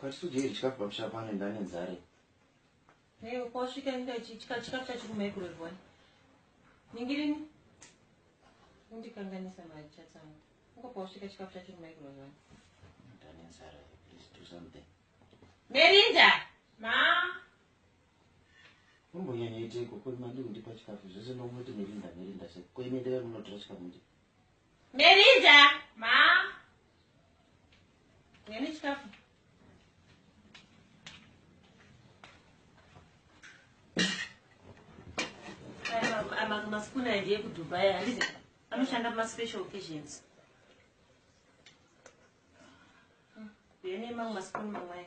Kwatisujeyi chikafu pamusha pano ndane nzare. Hey, kwasvika inda chikafu chikafu chacho kumaikrowave wani. Ningirini. Undikanganisa mari chatsangu. Uko kwasvika chikafu chacho kumaikrowave wani. Ndane nzare. Please do something. Merinda. Ma. Umbonyanya iteko kuri mandi kundipa chikafu zvese ndomuti Merinda Merinda se. Koimendera munotora chikafu ndi. Melinda. Ma. Nene chikafu. masikuna ndiye kudubai handizi anoshanda maspecial occasions yene mamwe masikuna mamwai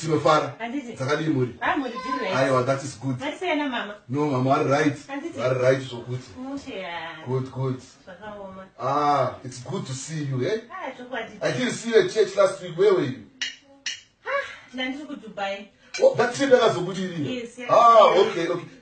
tinofara dzakadii mhuri aiwa that is good no mama vari right vari right zvokuti good good ah it's good to see you eh? Ah, i didn't see you at church last week where were you ah, ndandiri kudubai oh, that trip yakazobudirira ah okay okay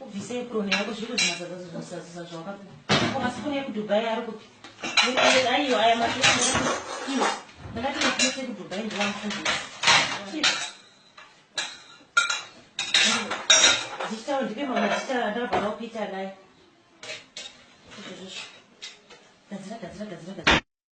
ubvise epuroni yako zviri kuzvinatsa zvazo zvinosazisa zvawakapiwa ko masikuni ekudubai ari kupi aiyo aya masikuni ndakati ndikuise kudubai ndiwamufundisa ndichitawo ndipe mamwe achita ndakabvana kuita naye gadzira gadzira gadzira gadzira